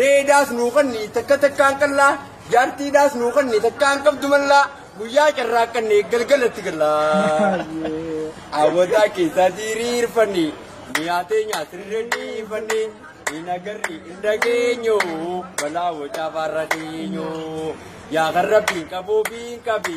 Ree daas nuu kanni takka takkaan qallaa jaartii daas nuu kanni takkaan qabdu mallaa guyyaa carraaqqanne galgalatti gallaa. Awwataa keessaa diriirfanne miyaatee nyaatirra dhiifanne hin agarri hin dhageenyu balaa wacaa faarra dhiyeenyu yaa kan rabbiin qabuuf hin qabi.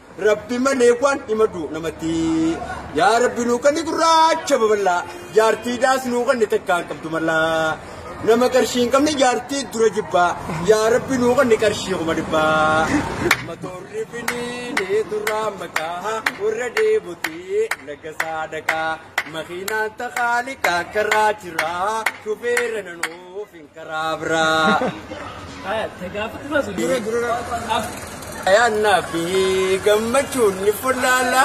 Rabbi malee waan himadu namatti yaa rabbi nuu kanni gurraacha babal'aa jaartii daas nuu kanni takkaan qabdu mallaa nama qarshii hin qabne jaartii dura jibbaa yaa rabbi nuu kanni qarshii kuma dhibbaa matoorri finiinee duraa maqaa warra deemutii laga saadaqaa makiinaan taqaaliqaa karaa jiraa shufeera nanoo. Garaa biraa. Dura dura. Ayyaanaa fi gammachuun ni fullaala.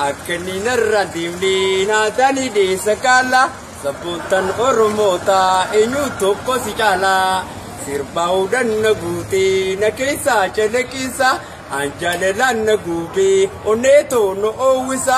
Akka inni narraan deemne naataan ideessa kaala. Sabboontan Oromoota eenyu tokko si caala. Sirbaa hudhan na guutee na keessaa calaqqisa. An jaalalaan na guubee onnee too na oowwisa.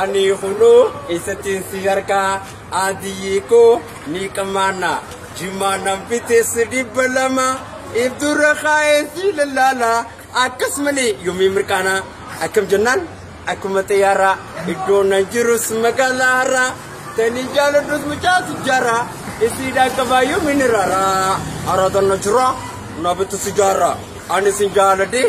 Ani kunoo eessattiin si argaa adiyyii koo ni qamaana jimaa nan fiteessi dhibba lama ibdurra kaa'een si lallaala akkas malee yoomii mirqaana akkam jennaan akkuma xiyyaara iddoo nan jirus magaalaa har'a tanii jaaladhus mucaa sijjaara isiidhaan qabaa yoomiin irraara araadaan na jira na bitu sijjaara ani sin jaaladhee.